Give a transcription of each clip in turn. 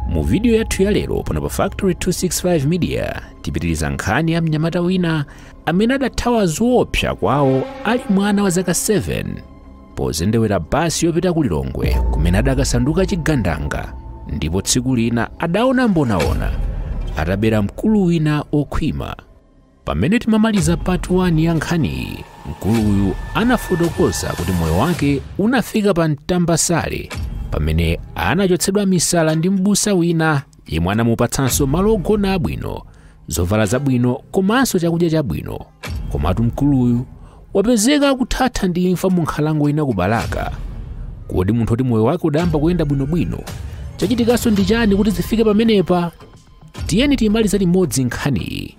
mu vidiyo yathu ya lero pano pa factory 265 media tipitiriza nkhani ya mnyamata wina amene adathawa zoopsa kwawo ali mwana wa zaka 7 pozendewera basi yopita ku lilongwe kumene adakasanduka chigandanga ndipo tsiku lina adaona mbonaona atabera mkulu wina okhwima pamene timamaliza part 1 ya nkhaniyi mkuluyu anafotokoza kuti moyo wake unafika pa mtambasale pamene anachotsedwa misala ndi mbusa wina yemwe anamupatsanso malo ogona abwino zovala zabwino komanso chakudya chabwino komatu mkuluyu wapezeka akuthatha ndi imfa mu nkhalango ina ku balaka kodi munthu oti moyo wake udayamba kuyenda bwinobwino chachitikanso ndi chani kuti zifike pamenepa tiyeni timalize limodzi nkhaniyi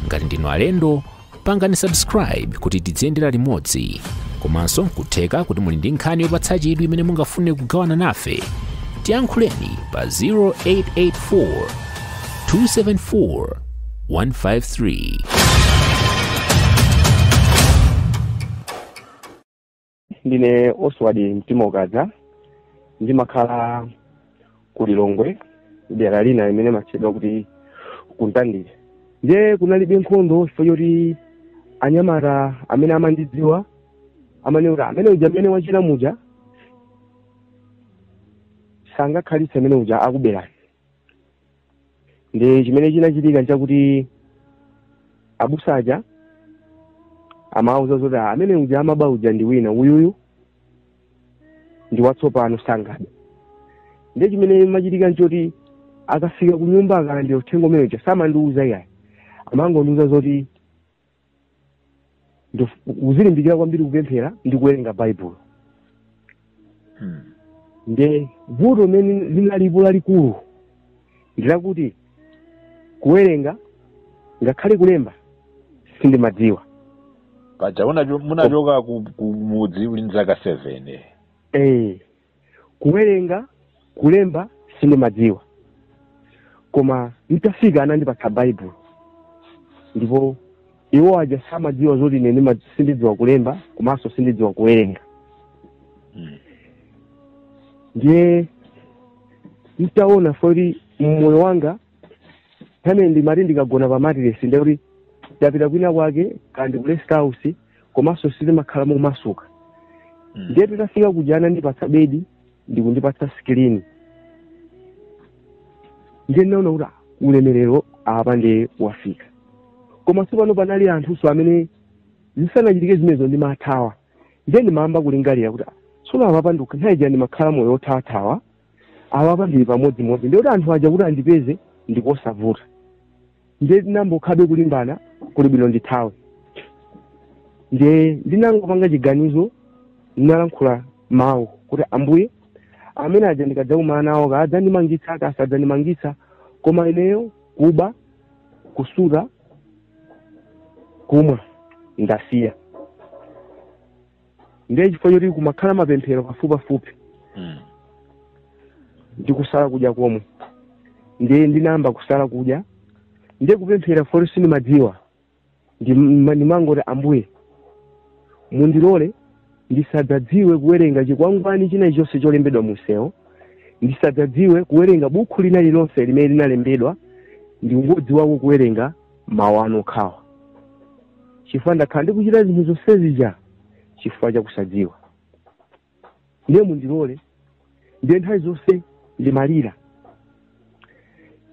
ngati ndinu alendo pangani subscribe kuti tidziyendera limodzi komanso nkutheka kuti muli ndi nkhani yopatsa chidwi imene mungafune kugawana nafe tiyankhuleni pa 0884 274 153 ndine oswald mtima ukadza ndimakhala ku lilongwe dera lina limene limatchedwa kuti ku mtandire ndiye kunalibe nkhondo chifukwa choti anyamata amene amandidziwa amanena kuti amene uja mmene wachitira muja sangakhalitse amene uja akuberani nde chimene chinachitika nchakuti abusa aja amawauza zoti "Ah, amene uja amaba uja ndi wina uyuyu ndi watsopano sangabe ndiye chimene chimachitika nchoti akafika ku nyumba akalandira uthenga umene uja samandiuza iyayi amangondiuza zoti Nkuti uzilimbikira kwambiri kupemphera ndi kuwerenga baibulo Hmm. nde vuto limene linalipo lalikulu ndilakuti kuwerenga ngakhale kulemba sindimadziwa paja munacho- munachoka ku- ku mudzi uli ndi zaka seven eh. eh kuwerenga kulemba sindimadziwa koma nditafika anandipatsa baibulo ndipo iwo aja samadziwa zoti ine ndima- sindidziwa kulemba komanso sindidziwa kuwerenga Mm. ndiye nditaona kuti moyo wanga pamene ndimati ndikagona pa matiresi ndekuti ndapita kwina kwake kaya ndi ku rest house komanso sitimakhala momasuka Mm. ndiye titafika kuja anandipatsa bedi ndikundipatsa skilini ndiye ndinaona kuti ah, ulemerero apa ndiye wafika komanso pano panali anthunso amene zisanachitike zimenezo ndimathawa ndiye ndimayamba kulingalira kuti ah, tsono apapa ndinka- nthawi ija ndimakhala moyo othawathawa awapa ndili pamodzimodzi ndikuti anthu aja kuti andipeze ndikosavuta ndiye ndinangokhabe kulimbana kuli bwino ndithawe ndiye ndinangopanga chiganizo ndinalankhula mawu kuti ambuye amene aja ndikadzakumana nawo kaya adzandimangitsa kaya sadzandimangitsa koma ineyo kuba kusuta kumwa ndasiya ndiye chifukwa choti kumakhala mapemphero pafupipafupi Mm. ndi kusala kudya komwe ndiye ndinayamba kusala kudya ndiye kupemphera poti sindimadziwa Ndim- ndimangoti ambuye mundilole ndisadzadziwe kuwerenga chikwangwani china chonse cholembedwa munsewu ndisadzadziwe kuwerenga bukhu lina lilonse limene linalembedwa ndingodziwako kuwerenga mawu anu okhawa chifukwa ndakhala ndikuchita zinthu zonse zija chifukwa cha kusadziwa ndiye mundilole ndiye nthawi zonse ndimalira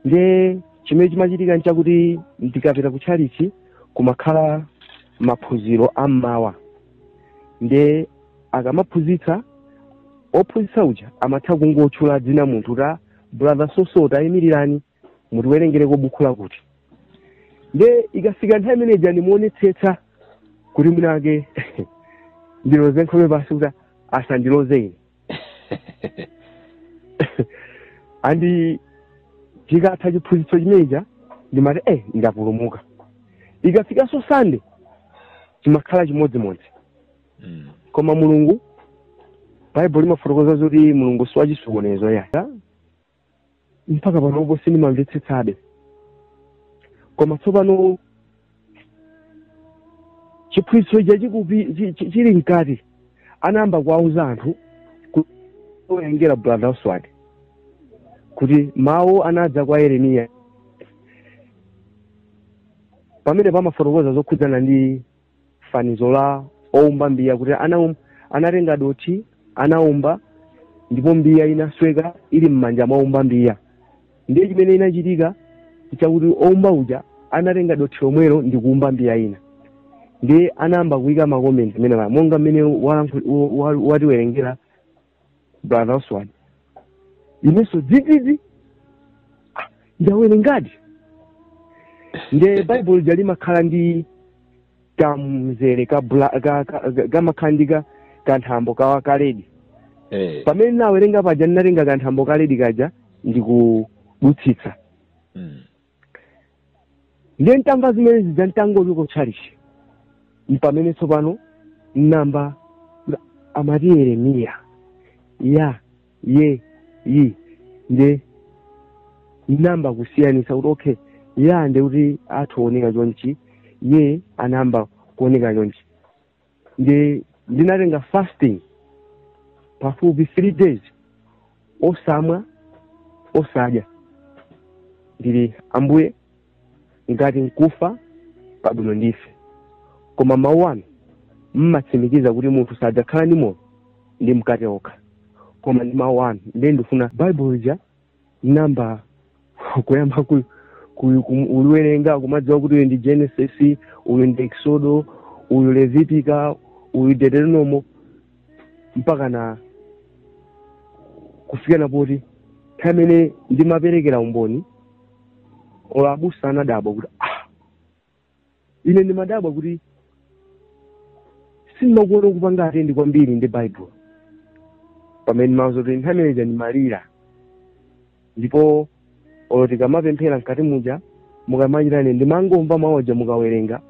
ndiye chimene chimachitika nchakuti ndikapita ku tchalichi kumakhala maphunziro a mmawa ndiye akamaphunzitsa ophunzitsa uja amatha kungotchula dzina munthu ta brother so so taimirirani mutiwerengereko bukhu lakuti nde ikafika nthawi imene ija ndimaonetsetsa kuti mwina mwake ndiloze nkhope pansi kuti asandiloze ine and chikatha chiphunzitso chimeneja ndimati eh ndapulumuka ikafikanso sande chimakhala chimodzimodzi Mm. koma mulungu baibulo limafotokoza zoti mulungu si wachisokonezo ya mpaka panopo sindimamvetsetsabe koma tsopano chiphunzitso chija chikupi- chi- chi- chili mkati anayamba kuwauza anthu owerenga brother oswald kuti mawu anadza kwa yeremiya pamene pamafotokoza zokhudzana ndi fanizo la oumba mbiya kuti anaum, anatenga dothi anaumba ndipo mbiya inasweka ili m'manja mwa oumba mbiya ndiye chimene chinachitika nchakuti oumba uja anatenga dothi lomwelo ndi kuumba mbiya ina ndiye anayamba kuika makomenti amene aja monga mmene walankhul- wa- wa- watiwerengera brother oswald inenso dzidzidzi Ah, ndawerengadi nde baibulo lija limakhala ndi kamzere ka bla- ka- ka- ka- kamakhala ndi ka- kanthambo kaja ka red Eh. pamene ndawerenga paja ndinatenga kanthambo ka red kaja ndikudutsitsa Mm. ndiye ntamva zimene zija nditangoli ku tchalitchi mpamene tsopano namba amati yeremiya ya ye yi nde namba kusiyanisa kuti okay ya nde kuti anthu owoneka chonchi ye anamba kuoneka chonchi ndi ndinatenga fasting pafupi three days osamwa osadya ndili ambuye ngati nkufa kwabwino ndife koma mawu anu mumatsimikiza kuti munthu sadzakhala ndi moyo ndi mkate okha koma ndi mawu anu ndiye ndifuna baibulo lija namba kuyamba ku, ku, ku, uliwerenga kumadziwa kuti uyu ndi genesis uyu ndi exodo uyu levitiko uyu deuteronomo mpaka na kufika na poti nthawi imene ndimaperekera umboni olo abusa anadabwa kuti ah ine ndimadabwa kuti sindimakuona kupanga atendi kwambiri ndi baibulo pamene ndimati zoti nthawi imeneja ndimalira ndipo olo tikamapemphera mkati muja mukamachita ine ndimangomva mawu aja mukawerenga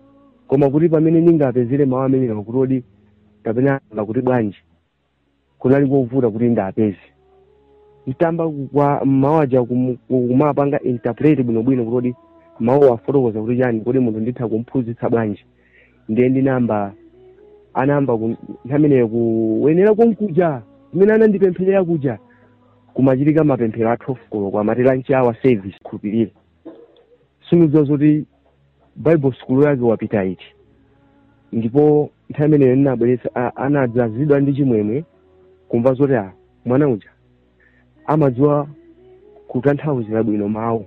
koma kuti pamene ndingapezere mawu amenewa kuti kodi kapena ayamba kuti bwanji kunali kovuta kuti ndapeze nditayamba kumva mawu aja kum- kumapanga interpret bwinobwino kuti kodi mawuwa afotokoza kuti chani kodi munthu nditha kumphunzitsa bwanji ndiye ndinamba anayamba ku- nthawimeneyo kuchokera konkuja kumene anandipempherera kuja kumachitika mapemphero a 12 koloko amati lunch hour service khulupirirani simudziwa zoti bible sukulu yake wapita iti ndipo nthawi imeneyo ndinabweretsa a- anadzazidwa ndi chimwemwe kumva zoti a mwana uja amadziwa kutanthauzira bwino mawu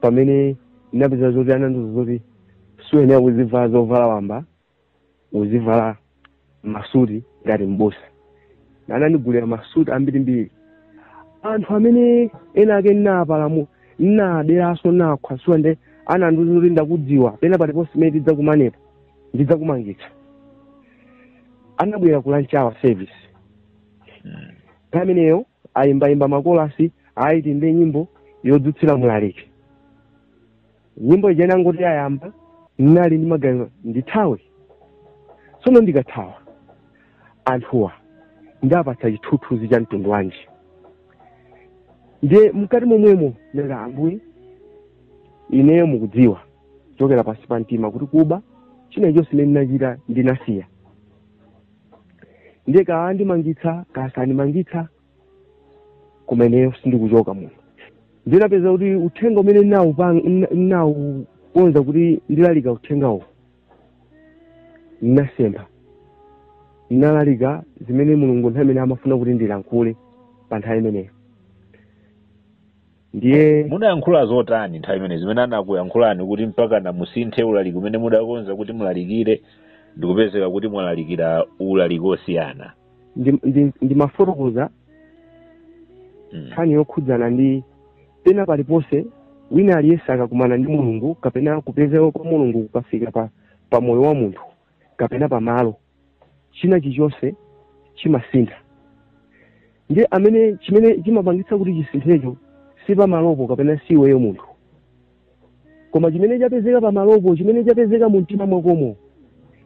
pamene ndinapeza zoti anandiuza zoti sukuyenera kuzivala zovala wamba uzivala masuti ngati mbusa anandigulira masuti ambirimbiri anthu amene ena ake nnaapalamula nnaaberanso nnakhwasula nde anandiuza kuti ndakudziwa pena paliponse pamene tidzakumanepo ndidzakumangitsa anabwera ku lunch hour service pamenepo ayimbayimba makolasi ati tiyimbe nyimbo yodzutsira mlaliki nyimbo ija inangoti yayamba ndinali ndi maganizo ndithawe tsono ndikathawa anthuwa ndapatsa chithunzithunzi cha mtundu wanji ndiye mkati momwemo nanga ambuye ineyo mukudziwa kuchokera pansi pa mtima kuti kuba china chonse chimene ndinachita ndinasiya ndiye kaandimangitsa kasandimangitsa koma ineyo sindikuchoka muno ndinapeza kuti uthenga umene ndinawukonza kuti ndilalika uthengawo ndinasempha ndinalalika zimene mulungu nthawi imene amafuna kuti ndilankhule pa nthawi imeneyo ndiye munayankhula zotani nthawi imene zimene anakuyankhulani kuti mpaka namusinthe ulaliki umene mudakonza kuti mulalikire ndikupezeka kuti mwalalikira ulaliki osiyana ndimafotokoza nkhani yokhudzana ndi pena paliponse wina aliyense akakumana ndi mulungu kapena kupezeka kwa mulungu kukafika pa moyo wa munthu kapena pamalo china chilichonse chimasintha ndiye amene chimene chimapangitsa kuti chisinthecho si pamalopo kapena si iweyo munthu koma chimene chapezeka pamalopo chimene chapezeka mu mtima mwakomo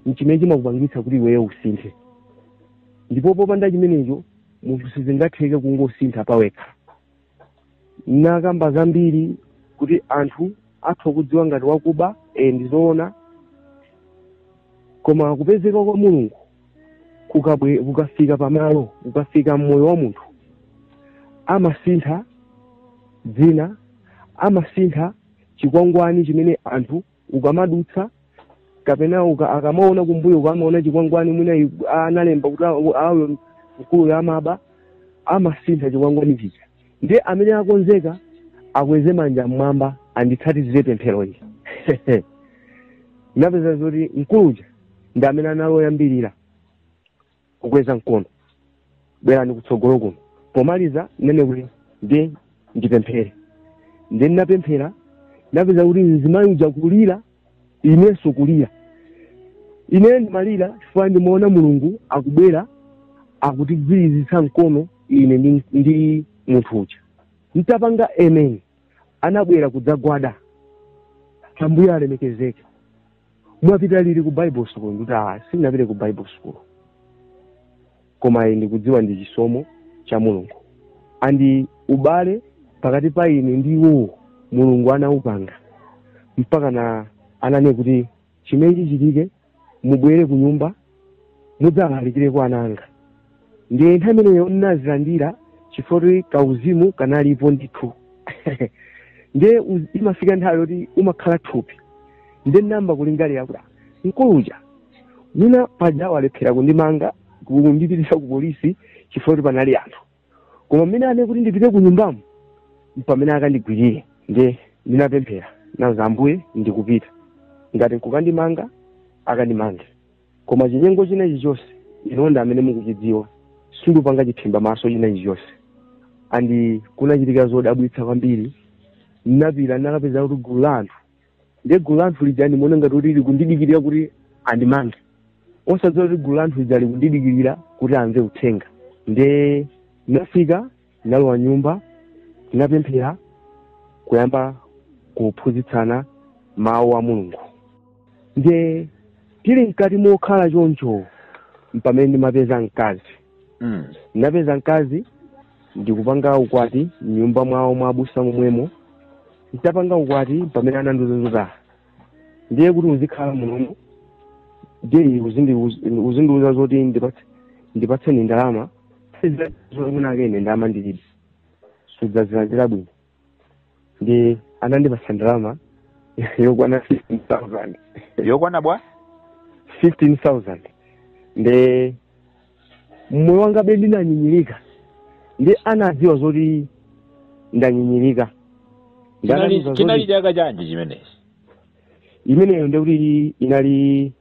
nchimene chimakupangitsa kuti iweyo usinthe ndipo popanda chimenecho munthu sizingatheke kungosintha pawekha nnakamba zambiri kuti anthu atha akudziwa ngati wakuba e, ndi zoona koma kupezeka kwa mulungu kukabwe kukafika pamalo kukafika mmoyo wa munthu amasintha dzina amasintha chikwangwani chimene anthu ukamadutsa kapena uka, akamaona kumbuyo uko amaona chikwangwani mwina analemba kuti uyo mkuluyo amaba amasintha chikwangwani chija ndiye amene akonzeka akweze manja mmwamba anditsatizire pempheroyi ndinapeza zoti mkuluja ndi amene anali oyambirira kukweza mkono bwerani kutsogolo kuno pomaliza nnene kuti ndiye ndipemphere ndiye ndinapemphera ndinapeza kuti mzimayi uja kulira inenso kulira ine ndimalira chifukwa ndimaona mulungu akubwera akutigwirizitsa mkono ine ndi munthu uja nditapanga amen anabwera kudzagwada ambuye alemekezeke mwapita liti ku bible school ndikuti ah sindinapite ku bible school koma ine ndikudziwa ndi chisomo cha mulungu and ubale pakati pa ine ndi iwowo mulungu anaupanga mpaka na anane kuti chimenechi chitike mubwere kunyumba mudzalalikire kwa ana anga ndiye nthawi imeneyo ndinazilandira chifukwa kauzimu kanalipo ndithu ndiye imafika nthawi yoti umakhala thupi ndiye ndinayamba kulingalira kuti "Ah, mkuluja mwina paja walephera kundimanga kundipitisa ku polisi chifukwa kuti panali anthu koma mmene amene kuti ndipite ku nyumbamo mpamene akandigwirire nde ndinapemphera nati ambuye ndikupita ngati nkukandimanga akandimange koma chinyengo china chilichonse inu ndi amene mukuchidziwa sindipanga chiphimba maso china chilichonse and kunachitika zodabwitsa kwambiri ndinapita ndinakapeza kuti gulu la anthu ndiye gulu la anthu lija ndimaona ngati kuti likundidikirira kuti andimange osadziwa kuti gulu la anthu lija likundidikirira kuti amve uthenga ndiye ndinafika ndinalowa nyumba tinapemphera kuyamba kuphunzitsana mawu a mulungu ndiye tili mkati mokhala choncho mpamene ndimapeza mkazi mm. ndinapeza mkazi ndikupanga ukwati mnyumba mwawo mwa abusa momwemo nditapanga ukwati pamene anandiuza ndiye kuti uzikhala munomo ndiye uzindi- uzindiuza zoti ndipatse- ndipatseni ndalama kwinakwake ine ndalama ndilibe sudzazilandira bwino nde anandipasa ndalama yokwana 15000 yokwana bwa? 15000 nde moyo wangabe ndinanyinyirika nde anadziwa zoti ndanyinyirika Ndi Chinali- anandiuza chinali zoti- chaka chanji chimenechi imeneyo ndekuti inali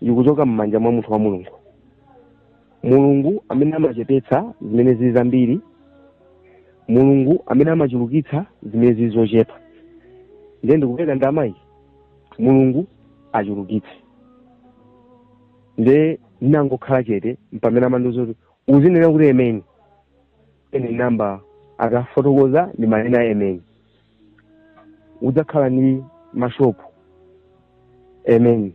ikuchoka m'manja mwa munthu wa mulungu mulungu amene amachepetsa zimene zili zambiri mulungu amene amachulukitsa zimene zili zochepa ndiye ndikupereka ndamayi mulungu achulukitse nde ndinangokhala chete mpamene amandiuza kuti uzinena kuti emeni ine ndinayamba akafotokoza ndimanena emeni udzakhala ndi mashopu emeni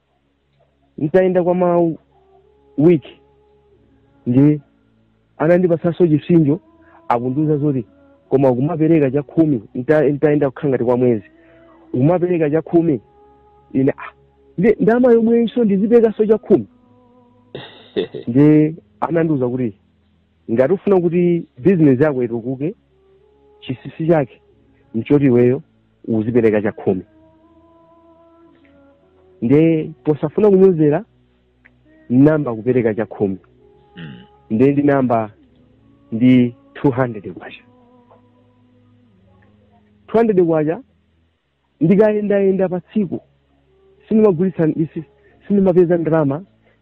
nditayenda kwa ma week nde anandipatsanso chipsinjo akundiuza zoti koma ukumapereka chakhumi nta- ntayenda kukhala ngati kwa mwezi ukumapereka chakhumi ine ah, ndama yomweyinso ndizipekanso chakhumi nde anandiuza kuti ngati ufuna kuti bizinesi yako itukuke chisisi chake nchoti iweyo uzipereka chakhumi nde posafuna kunyozera ndinayamba kupereka chakhumi Mm. nde ndinayamba ndi 200 kwacha 200 kwacha ndikayendayenda pa tsiku sindimagulitsa ndisi- sindimapeza ndalama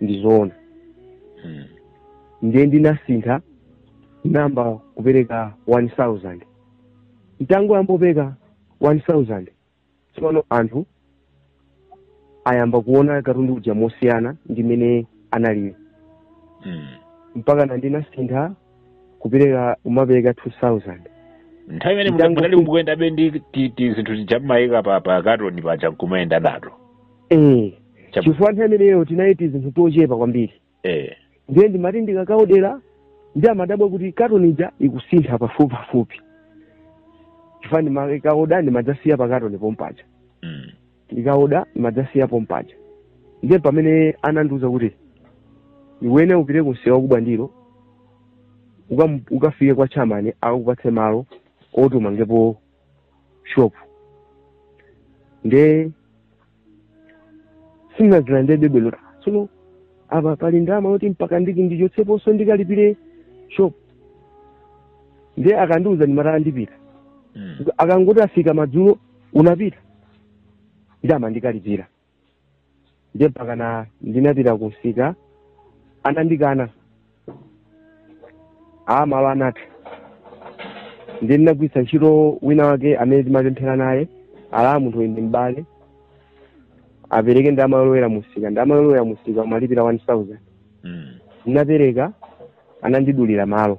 ndi zoona Mm. ndiye ndinasintha nayamba kupereka 1000 ntangoyamba kupereka 1000 tsopano anthu ayamba kuona katundu uja mosiyana ndi mmene analiyo Mm. mpakana ndinasintha kupereka kumapereka 2000 nthawi imene Mtango- munali mukuyendabe ndi ti- ti- zinthu tija mmayika pa pa katoni paja nkumayenda nato eh Chabu- chifukwa nthawi imeneyo tinali tizinthu tochepa kwambiri eh ndiye ndimati ndikakaodera ndi amadabwa kuti katonija ikusintha pafupi pafupi chifukwa ndimakaoda ndimadzasiya pa katoni pompaja mm. ndikaoda ndimadzasiya pompaja ndiye pamene anandiuza kuti iwene upite kumsika wa ku Bwandiro ukam- ukafike kwa chamani akupatse malo oti umangepo shop nde sinazilandirebe bwino tsono apa pali ndalama yoti mpaka ndiki ndichotseponso ndikalipire shop nde akandiuza ndimati ah ndipita Mm. akangoti afika madzulo unapita nde amandikalipira ndiye mpakana ndinapita kumsika anandikana malo anatha ndiye ndinagwiritsa ntchito wina wake amene timapemphera naye ah munthu uyu ndi m'bale apereke ndalama yolowera mumsika ndalama yolowera mumsika umalipira 1000 Mm. ndinapereka anandidulira malo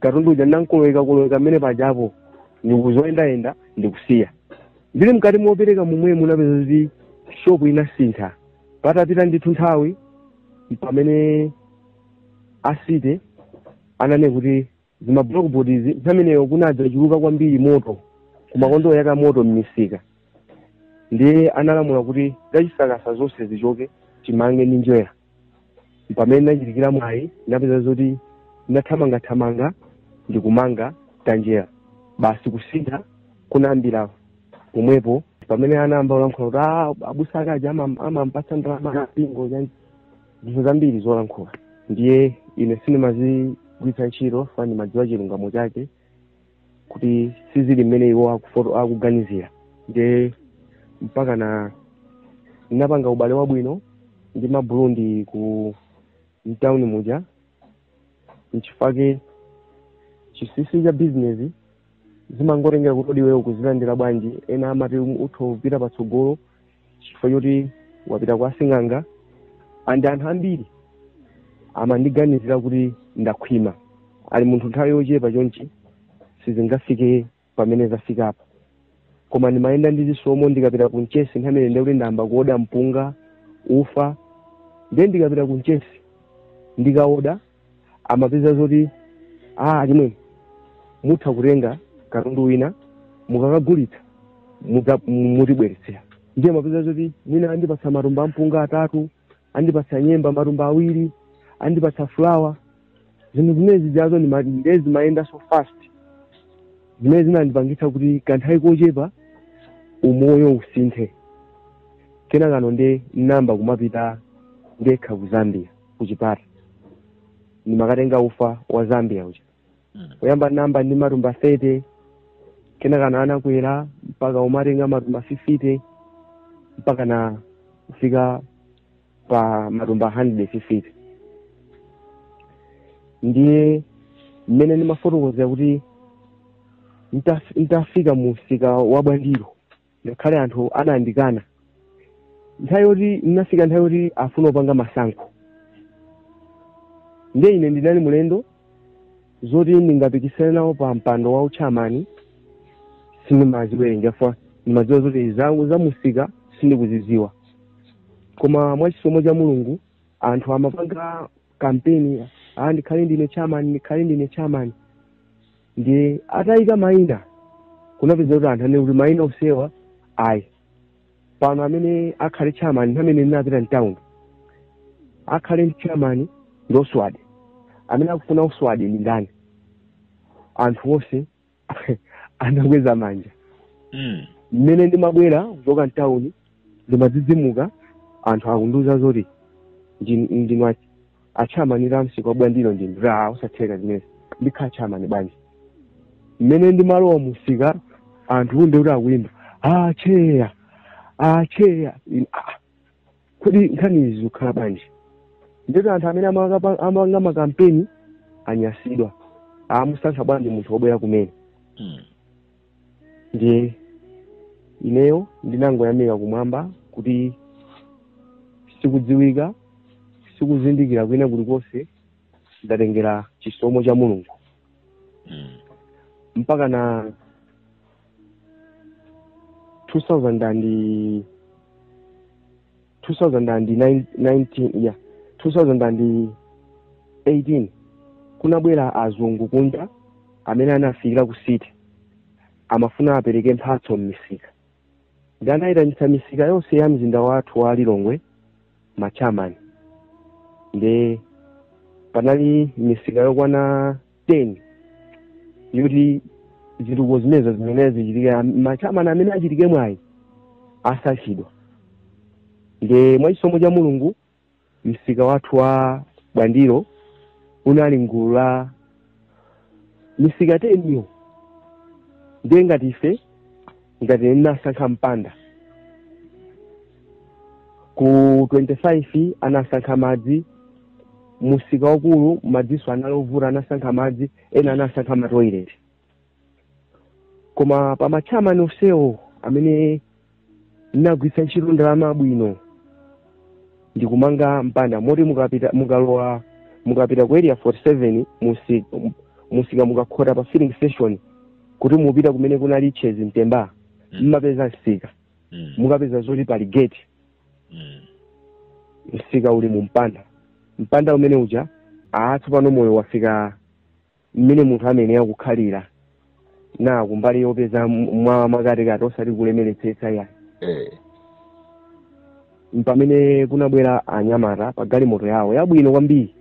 katundu uja ndinankoloweka koloweka mmene pajapo ndikudzayendayenda ndikusiya ndili mkati mopereka momwemu napeza zoti shopu inasintha patapita ndithu nthawi pamene a city ananena kuti za ma blockboards nthawi imeneyo kunadza chuluka kwambiri moto kumakonda kuyaka moto mmisika ndiye analamula kuti zachisakasa zonse zichoke timange ndi njerwa pamene ndinachitika mwayi ndinapeza zoti ndinathamangathamanga ndikumanga tanjerwa basi kusintha kunayambira pomwepo pamene anayamba kulankhula kuti "Ah, abusa akaja ama- amampatsa ndalama ya mpingo zinthu zambiri zolankhula ndiye ine sindimazigwiritsa ntchito chifukwa ndimadziwa chilungamo chake kuti sizili mmene iwo akufoto akuganizira nde mpakana ndinapanga ubale wabwino ndi maburundi ku mtawuni muja nchifake chinsinsi cha bizinesi zimangotengera kuti kodi iweyo ukuzilandira bwanji ena amati utha kupita patsogolo chifukwa choti wapita kwa sing'anga and anthu ambiri amandiganizira kuti ndakhwima ati munthu nthawi yochepa chonchi sizingafike pamene zafikapa koma ndimayenda ndi chisomo ndikapita ku mchesi nthawi imene ndikuti ndayamba kuoda mpunga ufa ndiye ndikapita ku mchesi ndikaoda amapeza zoti a achimwene mutha kutenga katundu wina mukakagulitsa mudza- mu- mutibweretsera ndiye amapeza zoti mwina andipatsa matumba ampunga atatu andipatsa nyemba matumba awiri andipatsa fulawa zinthu zimene zijazo ndi ma- ndiye zimayenda so fast zimene zinandipangitsa kuti kanthawi kochepa umoyo usinthe kenakano nde namba kumapita ndekha ku zambia kuchipata ndimakatenga ufa wa zambia uja Mm. kuyamba namba ndi matumba 30 kenakano anakwera mpaka umatenga matumba 50 mpakana kufika pa matumba 150 ndiye mmene ndimafotokozera kuti nitaf- nitafika mu msika wa bwandilo ngakhale anthu anandikana nthawi yoti ndinafika nthawi yoti afuna kupanga masankho ndiye ine ndinali mlendo zoti ndingapikisane nawo pa mpando wa uchamani sindimaziwerengera chifukwa ndimadziwa zoti zangu za musika sindikuziziwa koma mwachisomo cha mulungu anthu amapanga kampeni ah, ndikhale ndine chairman ndikhale ndine chairman ndiye atayika mayina kunapezeka kuti anthu anene kuti mayina onsewa ayi pano amene akhale chairman amene anapita mtown akhale chairman ndi oswadi amene akufuna oswadi ndi ndani anthu onse anakweza manja Mm. mmene ndimabwera kuchoka mtawuni ndimadzidzimuka anthu akundiuza zoti ndi- ndinu a- atchamani a msika wa bwandilo ndinati zosatheka zimenezi ndikhala tchamani bwanji mmene ndimalowa musika anthu ndikuti akuyimba acheya acheya In- ah, kodi nkhani izi zikukhala bwanji ndiye anthu amene amaka- amanga makampeni anyasidwa amusankha bwanji munthu wobwera kumene Mm. ndiye ineyo ndinangoyamika kumwamba kuti sikudziwika sikuzindikira kwina kulikonse ndatengera chisomo cha mulungu Mm. mpakana 2000 and 2019 yeah 2018 kunabwera azungu kunja amene anafikira ku city amafuna apereke mphatso m'misika ndi anaitanitsa misika yonse ya mzinda wathu wa lilongwe machairman nde panali misika yokwana 10 yoti zitukuko zimenezo zimene zichitika machairman amene achite mwayi asankhidwa nde mwa chisomo cha mulungu msika wathu wa bwandilo unali m'gulu la misika 10 yo ndiye ngati ife ngati ine ndinasankha mpanda ku 25 anasankha madzi msika waukulu madzinso anali ovuta anasankha madzi ena anasankha matoileti koma pa machairman onsewo amene ndinagwiritsa ntchito ndalama bwino ndikumanga mpanda moti mukapita mukalowa mukapita ku area 47 msika mukakhota pa filling station kuti mupita kumene kunali chez ntemba Mm. mmapeza msika Mm. mukapeza zoti pali gate Mm. msika uli mu mpanda mpanda womwe uja aa tsopano moyo unafika mmene munthu amene akukhalirana kumbali yopeza mwa pakatikati osati kulemeretsetsa yayi mpamene kunabwera anyamata pa galimoto yawo yabwino kwambiri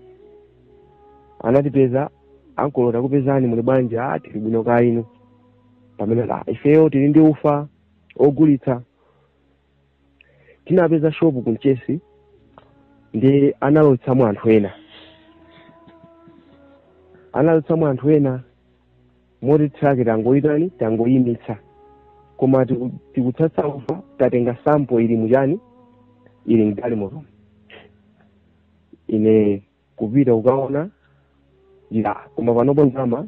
anatipeza ankolo takupezani muli bwanji aa tili bwino kaya inu pamenepa ifeyo tili ndi ufa ogulitsa tinapeza shopu ku mchesi nde analotsamo anthu ena analotsamo anthu ena moti truck tangoitani tangoyimitsa koma tiku- tikutsatsa ufa tatenga sampo ili mu chani ili m'galimoto ine kupita kukaona ndiye koma panopo ndalama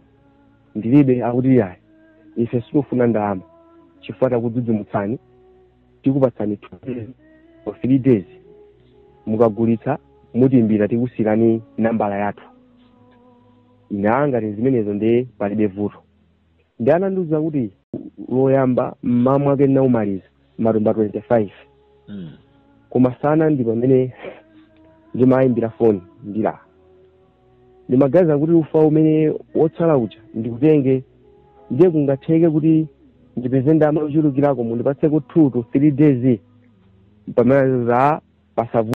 ndilibe akuti yayi ife sitifuna ndalama chifukwa takudzidzimutsani tikupatsani two days or three days mukagulitsa mutiimbira tikusiyirani nambala yathu ine aa ngati zimenezo ndiye palibe vuto Ndiye anandiuza kuti loyamba mmawa mwake ndinamaliza matumba 25 Mm. koma masana ndi pamene ndimawaimbira foni ndili ndimaganiza kuti ufa umene wotsala uja ndikutenge ndiye kungatheke kuti ndipeze ndalama yochulukirako mundipatseko 2 to 3 days pamene zapasavuta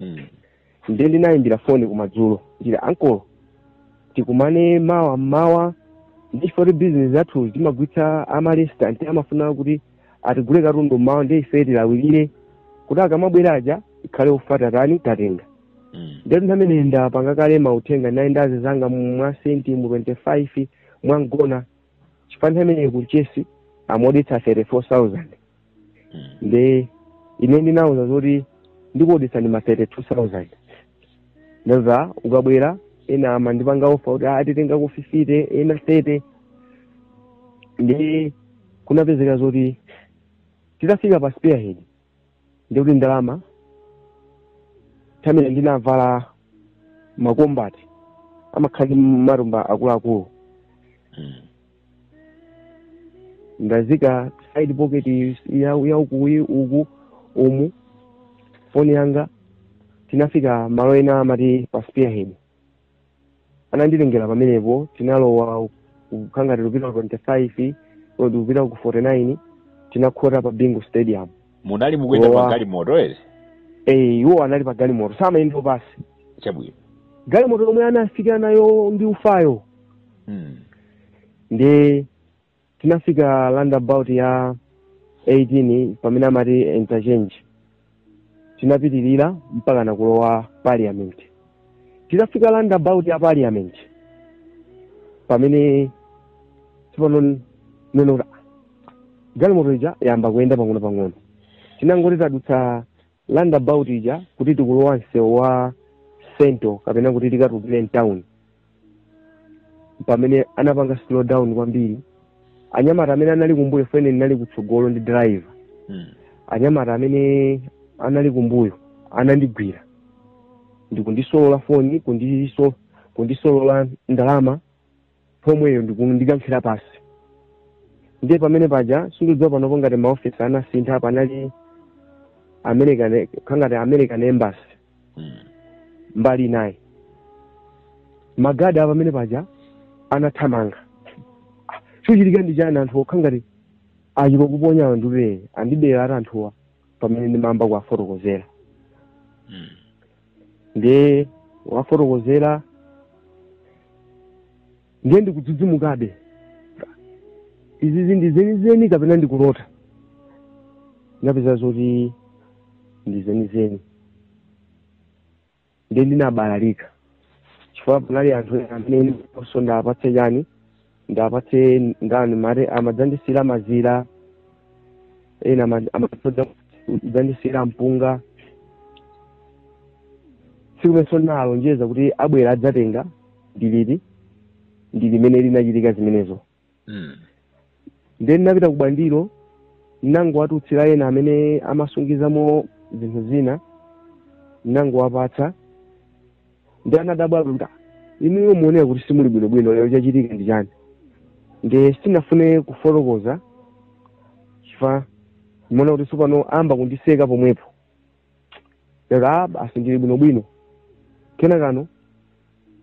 mm. nde ndinayimbira foni kumadzulo ndati ankolo tikumane mawa mmawa ndi chifukwa bizinesi zathu timagulitsa amalesitanti amafuna kuti atigule katundu mmawa nde ife tilawirire kuti akamabwera aja tikhale ufa tatani tatenga mm. nde nthawi imene ndapanga kale mauthenga nawo anzanga mu- mwa senti mu 25 mwa mgona chifukwa nthawi imene kumchesi amaodetsa 34000 nde ine ndinauza zoti ndikuodetsani ma 32000 ndeno akabwera ena amandipanga ofa kuti "Ah, titengako 50 ena 30 nde kunapezeka zoti titafika pa spearhead ndikuti ndalama pamene ndinavala makombati amakhala ndi matumba akuluakulu ndaziika side pocket ya, ya uku i- uku umu foni yanga tinafika malo ena amati pa spearhead ananditengera pamenepo tinalowa kukhala ngati tikupita ku 25 kapena kupita ku 49 tinakhota pa bingu stadium munali mukuyenda Lowa. magalimoto ere eh iwo anali pa galimoto samayenda pansi chabwino galimoto yomwe anafika nayo ndi ufayo mm. nde tinafika roundabout ya 18 pamene amati interchange tinapitirira mpaka ngati kulowa parliament tinafika roundabout ya parliament pamene tsopano ndinaona kuti "Ah, galimoto ija yamba kuyenda pang'ono pang'ono titangoti tadutsa roundabout ija kuti tikulowa msewu wa central kapena kuti tikatulukire mtown pamene anapanga slow down kwambiri anyamata amene anali kumbuyo ife ine ndinali kutsogolo ndi driver Mm. anyamata amene anali kumbuyo anandigwira ndikundisolola foni kundiso kundisolola ndalama pomweyo ndikundikankhira pansi ndiye pamene paja sindikudziwa panopo ngati maofesi anasintha panali american kukhala ngati american embassy Mm. mbali inayo magadi a pamene paja anathamanga Ah, chochitika ndi chani anthu akhala ngati achita kukuponya ndiye andiberatu anthuwa pamene ndimayamba kuwafotokozera Mm. ndiye kuwafotokozera ndiye ndikudzidzimukabe izizi ndi zenizeni kapena ndikulota ndinapeza zoti ndi zenizeni ndiye ndinabalalika chifukwa panali anthu amene ndimayenera ndiwapatse chani ndimpatse ndani mare amadzandisiyira mazira ena ama- amatodza kudzandisiyira mpunga tsiku limenelo ndinalonjeza kuti abwere adzatenga ndilibe ndi limene linachitika zimenezo Mm. ndiye ndinapita ku Bwandilo ndinangowatutira ena amene amasungizamo zinthu zina ndinangowapatsa ndi anadabwa kuti "Ah, inuyo muoneka kuti simuli bwinobwino lero chachitika ndi chani nde sindinafune kufotokoza chifukwa ndimaona kuti tsopano ayamba kundiseka pomwepo ndati a basi ndili bwinobwino kenakano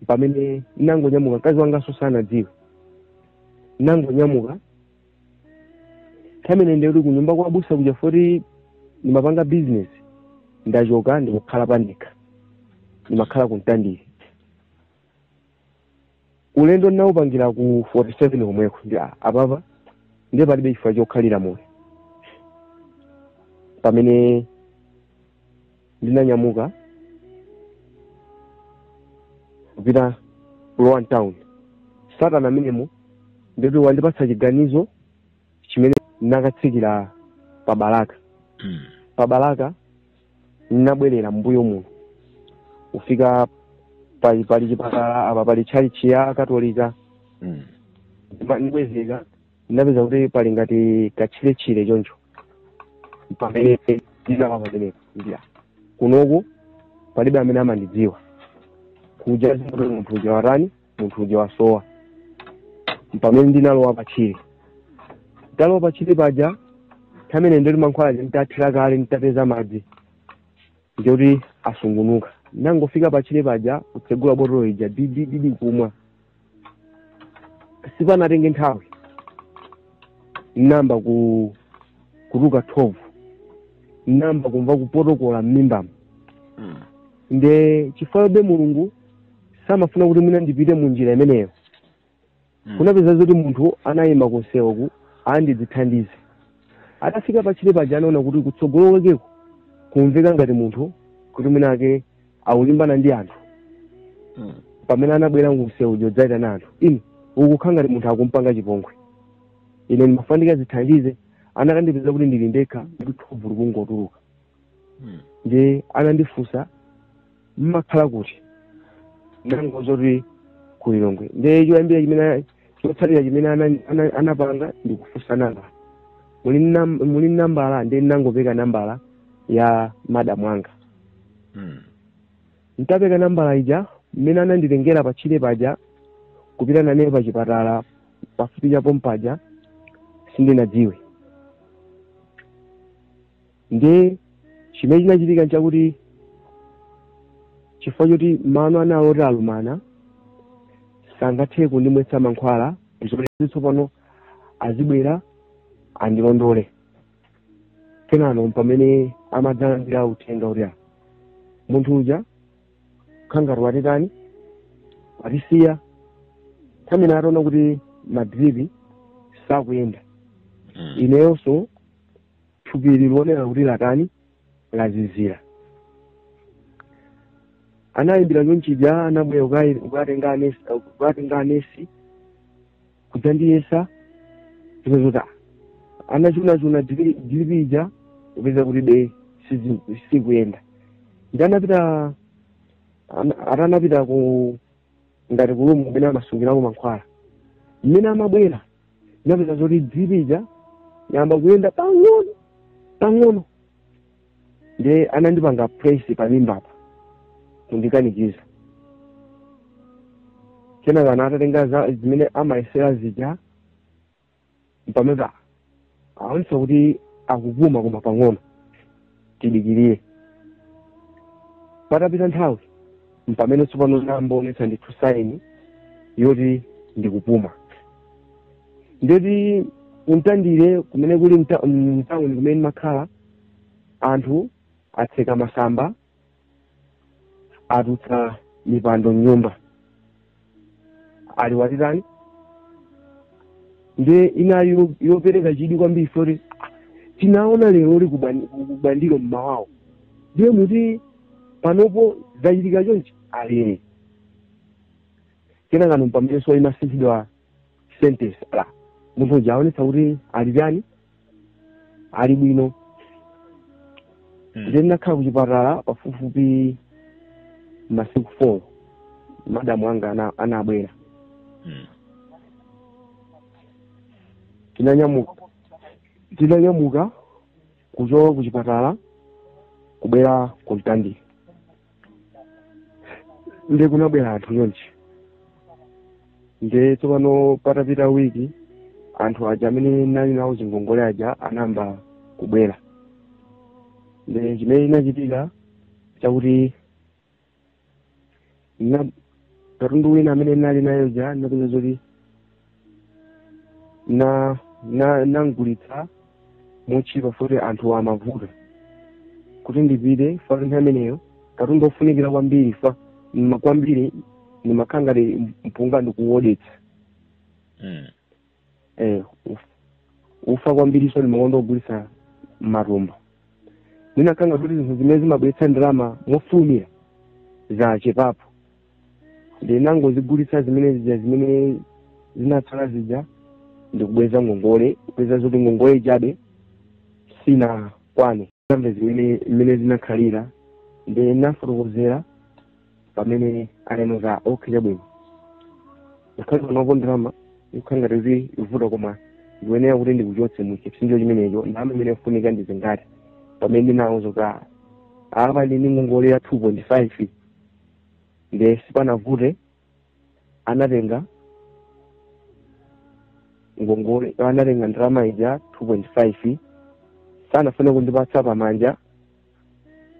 pamene ndinangonyamuka mkazi wanganso sanadziwe ndinangonyamuka nthawi imene ndikuti kunyumba kwa abusa kuja foti ndimapanga business ndachoka ndikakhala pandekha ndimakhala ku Mtandire ulendo ndinawupangira ku 47 komweko ndi a- apapa ndiye palibe chifukwa chokhalira moyo pamene ndinanyamuka kupita kulowa mtown satana amenemo ndiye kuti wandipatsa chiganizo chimene ndinakatsikira pa Balaka Mm. pa Balaka ndinabwerera mbuyo muno kufika pali pali chipatala apa pali tchalitchi ya Katolika Mm. ndibwezeka ndinapeza kuti pali ngati katchiretchire choncho pamene ndinapa pamenepo ndila kunoku palibe amene amandidziwa kuja zoti munthu uja watani munthu uja wasowa pamene ndinalowa patchire ndalowa patchire paja pamene ndoti mankhwala aja nditathira kale nditapeza madzi ndikuti asungunuka ndinangofika patchire paja kutsegula botolo ija didididi kumwa sipanatenge nthawi ndinayamba ku kutuluka thovu ndinayamba kumva kupotokola m'mimbamo Mm. nde chifukwa be mulungu samafuna kuti mwina ndipite mu njira imeneyo Mm. kunapezeka kuti munthu anayima kunsewuko akadzithandize atafika patchire paja anaona kuti kutsogolo kwakeko kumveka ngati munthu kuti mwina wake akulimbana ndi anthu Mm. pamene anabwera kumsewu kudzaitana anthu ine kukukhala ngati munthu akumpanga chipongwe ine ndimafuna ndikazithandize anakandipeza kuti ndili ndekha ndi thovu likungotuluka hmm. ndiye anandifunsa mmakhala kuti ndinangoti kulilongwe ndiye choyambira chimene chotsatira chimene anapanga ndi kufunsa nambala muli nambala ndiye ndinangopereka nambala ya madamu anga hmm. ntapereka nambala ija mmene ananditengera patchire paja kupita nane pachipatala pafupi cha pompaja sindinadziwe Ndiye chimene chinachitika nchakuti chifukwa choti mano anali oti alumana sangathe kundimwetsa mankhwala zoti tsopano azibwera andilondole kenano pamene amadzalandira uthenga uti "Ah, munthu uja kangati watitani watisiya kenaka ataona kuti madripi sakuyenda Mm. ineyonso thupi likuoneka kuti latani lazizira anayimbira chonchija anabwera kukayi- kukatenga anesi kukatenga anesi kudzandiyesa zimenezo ndiye anachuna-chuna dilipi ija kupeza kuti be sizi- sikuyenda nde anapita ana- ati anapita ku ngati kulumu kumene amasungirako mankhwala mmene amabwera anapeza zoti dilipi ija yayamba kuyenda pang'ono pang'ono nde anandipanga presi pa mimbapa kundikanikiza kenaka ana atatenga za- zimene amayesera zija mpamene anaonetsa kuti akupuma koma pang'ono tidikirire patapita nthawi mpamene tsopano n'naonetsa ndithu saini yoti ndikupuma nde kuti ku Mtandire kumene kuli mta- mtawuni kumene mmakhala anthu atsekera masamba atulutsa mipando mnyumba ati watitani nde inali yo- yopereka chidwi kwambiri zoti tinamuona lero uli bwani- bwinobwino mmawawo ndiye muti panopo zachitika chonchi ali kenakano mpamenenso imasinthidwa sentence ya munthu uja waonetsa kuti ali chani ali bwino nde ndinakhala kuchipatala pafupifupi masiku four madamu anga ana- anabwera tinanyamuka tinanyamuka kuchoka kuchipatala kubwera ku mtandire nde kunabwera anthu chonchi nde tsopano patapita wiki anthu aja amene nali nawo zingongole aja anayamba kubwera nde chimene chinachitika n'chakuti na katundu wina amene ndinali naye uja ndinapeza zoti na na nagulitsa motchipa poti anthu amavuta kuti ndibweze pa nthawi imeneyo katundu ofunikira kwambiri fa ma- kwambiri imakhala ngati mpunga ndikuwodetsa Mm. eh, uf, ufa kwambiriso ndi makonda kugulisa matumba ndinakhala ngati zinthu zimene zimabweretsa ndalama mofulumira zachepapo ndinangozigulisa zimene zija zimene zinatsala zija ndikubweza ngongole kupeza zoti ngongole ijabe sinakwane kaambe zimene zimene zinakhalira nde ndinawafotokozera pamene ananena zoti okay chabwino ngakhale panopo ndalama ikukhala ngati kuti ikuvuta koma ndikuyenera kuti ndikuchotse mu chipsinjo chimenecho ndalama imene ikufunika ndi zingati pamene ndinawuza kuti "Ah, apa ndi ngongole ya two point five nde sipanavute anatenga ngongole anatenga ndalama ija 2.5 sanafune kundipatsa pamanja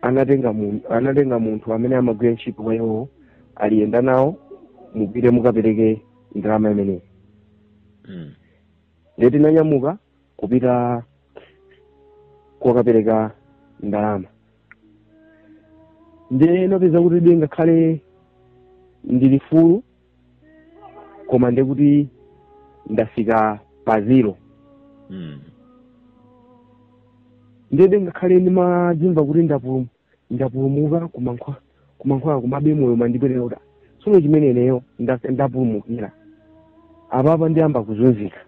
anatenga mun- anatenga munthu amene amagwira ntchito kwa iwowo ali yenda nawo mupite mukapereke ndalama imeneyi Mm. ndiye tinanyamuka kupita kokapereka ndalama ndiye napeza kutibe ngakhale ndili fulu koma ndiye kuti ndafika pa zero Mm. ndiyebe ngakhale ndimadzimva kuti ndapulum- ndapulumuka kumankhwa kumankhwala kumabe moyo umandipweteka kuti tsono chimene ineyo nda- ndapulumukira apapa ndiyamba kuzunzika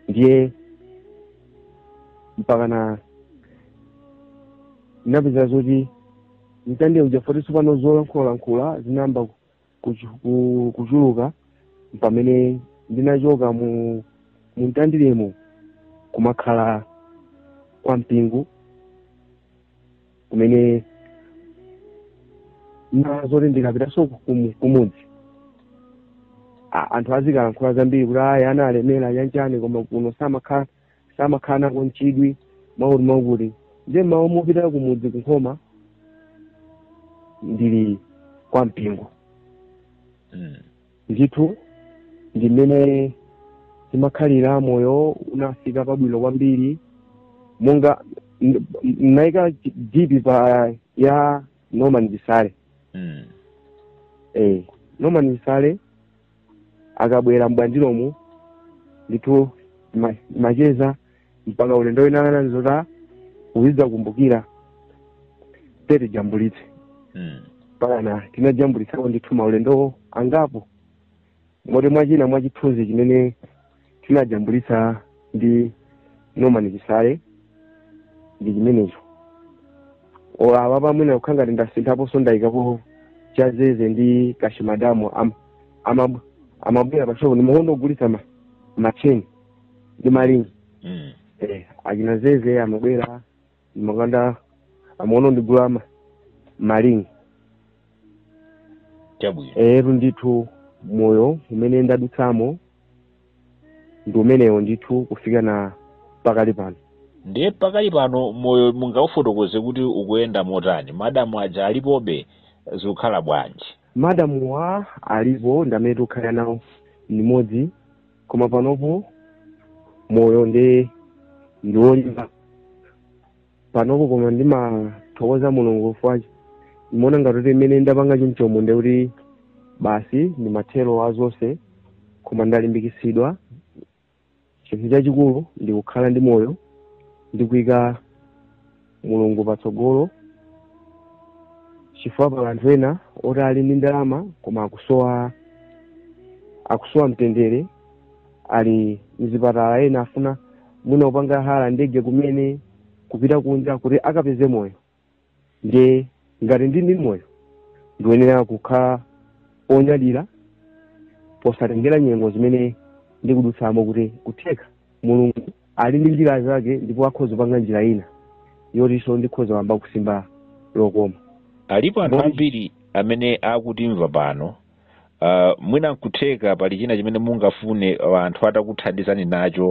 ndiye mpakana ndinapeza zoti mtandire muja poti tsopano zolankhulalankhula zinayamba kuchu- ku- kuchuluka pamene ndinachoka mu mu mtandiremo kumakhala kwa mpingo kumene ndinaona zoti ndikapitanso kumu- kumudzi a- anthu azikalankhula zambiri kuti ayi analemera chani chani koma kuno samakhala samakhala nako n'chidwi mwakuti mwakuti nde m'malo mopita kumudzi kunkhoma ndili kwa mpingo Mm. Ndithu ndi mmene timakhalira moyo unafika pabwino kwambiri monga n- n- naika chi- dipi pa ya norman chisale Mm. eh, norman chisale akabwera m'Bwandiromo ndithu ma- macheza mpaka ulendo wina ananena zota uzidzakumbukira tatijambulitse Mm. mpakana tinajambulitsako ndithu maulendowo angapo moti mwachina mwa chithunzi chimene tinajambulitsa ndi norman chisale ndi chimenecho O, apa pamwina kukhala ngati ndasinthaponso ndayikapo chazeze ndi Kashi madamu am- amab- amabwera pashopu ndimakonda kugulitsa ma- macheni ndi maringi Mm. eh, achina zeze amabwera ndimakonda amazandigula ma- maringi Chabwino. etu ndithu moyo umene ndadutsamo ndi umenewo ndithu kufika na pakali pano Ndiye pakali pano moyo mungaufotokoze kuti ukuyenda motani. Madamu aja alipobe zikukhala bwanji. madamuwa alipo ndi amene tikukhala nawo limodzi koma panopo moyo ndi ndi wolimba panopo koma ndimathokoza mulungu chifukwa choti ndimaona ngati kuti mmene ndapanga chomchomo nde kuti basi ndi mathero a zonse koma ndalimbikitsidwa chinthu chachikulu ndi kukhala ndi moyo ndi kuyika mulungu patsogolo chifukwa pali anthu ena oti ali ndi ndalama koma akusowa akusowa mtendere ali mzipatala ena afuna mwina kupanga hala ndege kumene kupita kunja kuti akapeze moyo ndiye ngati ndili ndi moyo ndikuyenera kukhala onyadira posatengera nyengo zimene ndikudutsamo kuti kutheka mulungu ali ndi njira zake ndipo akhoza kupanga njira ina yotinso ndikhoza kuyamba kusimba lokoma alipo anthu Bom- ambiri amene akutimva pano uh, mwina nkutheka pali china chimene mungafune uh, anthu atakuthandizani nacho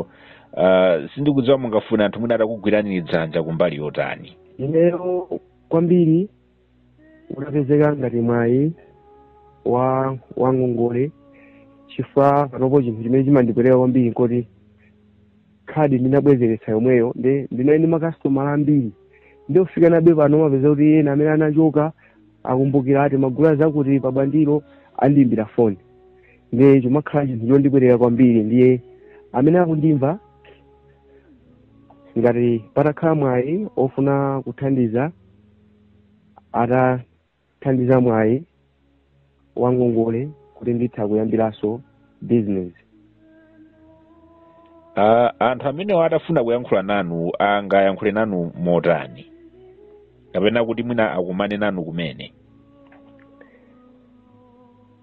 uh, sindikudziwa mungafune anthu mwina atakugwirani dzanja kumbali yotani ineyo kwambiri utapezeka ngati mwayi wa wa ngongole chifukwa panopo chinthu chimene chimandipweteka kwambiri nkoti khadi ndinabwezeretsa yomweyo ndi ndinali ndi makasitomala ambiri ndi kufika nabe pano umapeza kuti ena amene anachoka akumbukira kuti timagula zakuti pa Bwandiro amandiimbira foni ndi chimakhala chinthu chondipweteka kwambiri ndiye amene akundimva ngati patakhala mwayi ofuna kuthandiza atathandiza mwayi wa ngongole kuti nditha kuyambiranso business Ah, anthu amenewo atafuna kuyankhula nanu angayankhule nanu motani kapena kuti mwina akumane nanu kumene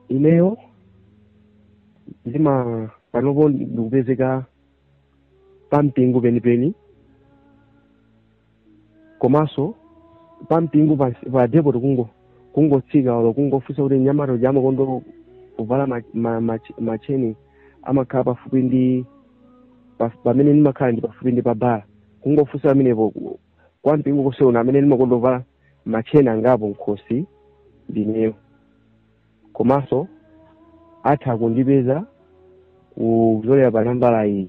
ineyo ndima panopo ndikupezeka pa mpingo penipeni komanso pa mpingo pa pa depot kungo kungotsika olo kungofunsa kuti mnyamata uja amakondo kuvala ma- ma- ma- macheni amakhala pafupi ndi pa- pamene ndimakhala ndi pafupi ndi pa bala kungofunsa pamenepo ku- kwa mpingo konse uno amene ndimakonda kuvala macheni angapo m'khosi ndineyo komanso atha kundipeza kudzera pa nambala iyi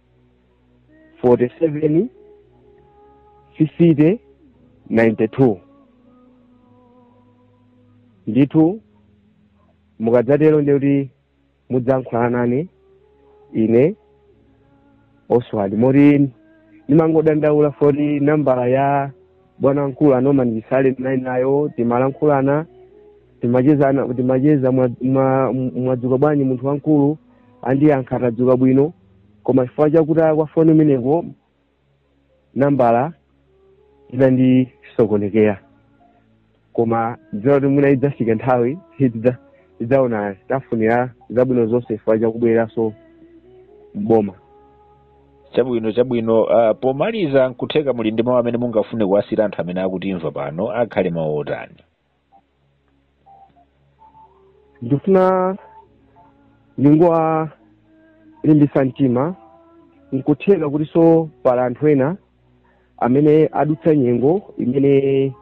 47 50 92 ndithu mukadzatero ndi kuti mudzankhulana nane ine oswald moti ndimangodandaula poti nambala ya bwana mkulu anoma ndisale ndinali nayo timalankhulana timachezana timacheza mwadzuka bwanji munthu wamkulu andiyankha tadzuka bwino koma chifukwa chakutayika kwa foni imeneyo nambala inandisokonekera koma ndidziwa kuti mwina idzafika nthawi tidza- tidzaona tiwafunira zabwino zonse chifukwa chakubwereranso mboma chabwino chabwino uh, pomaliza nkutheka muli ndi mawu amene mungafune kuwasiyira anthu amene akutimva pano akhale mawu otani ndikufuna ndingowalimbisa mtima nkutheka kutinso pali anthu ena amene adutsa nyengo imene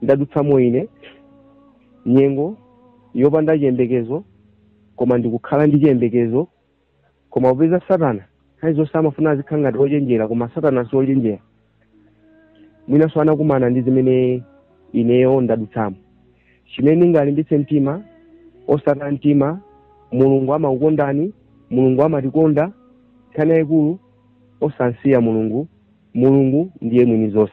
ndadutsamo ine nyengo yopanda chiyembekezo koma ndikukhala ndi chiyembekezo koma popeza satana nthawi zonse amafuna azikhala ngati ochenjera koma satana si ochenjera mwinanso anakumana ndi zimene ineyo ndadutsamo chimene ndingalimbitse mtima osataya mtima mulungu amakukondani mulungu amatikonda nkhani yayikulu osamsiya mulungu mulungu ndiye mwini zonse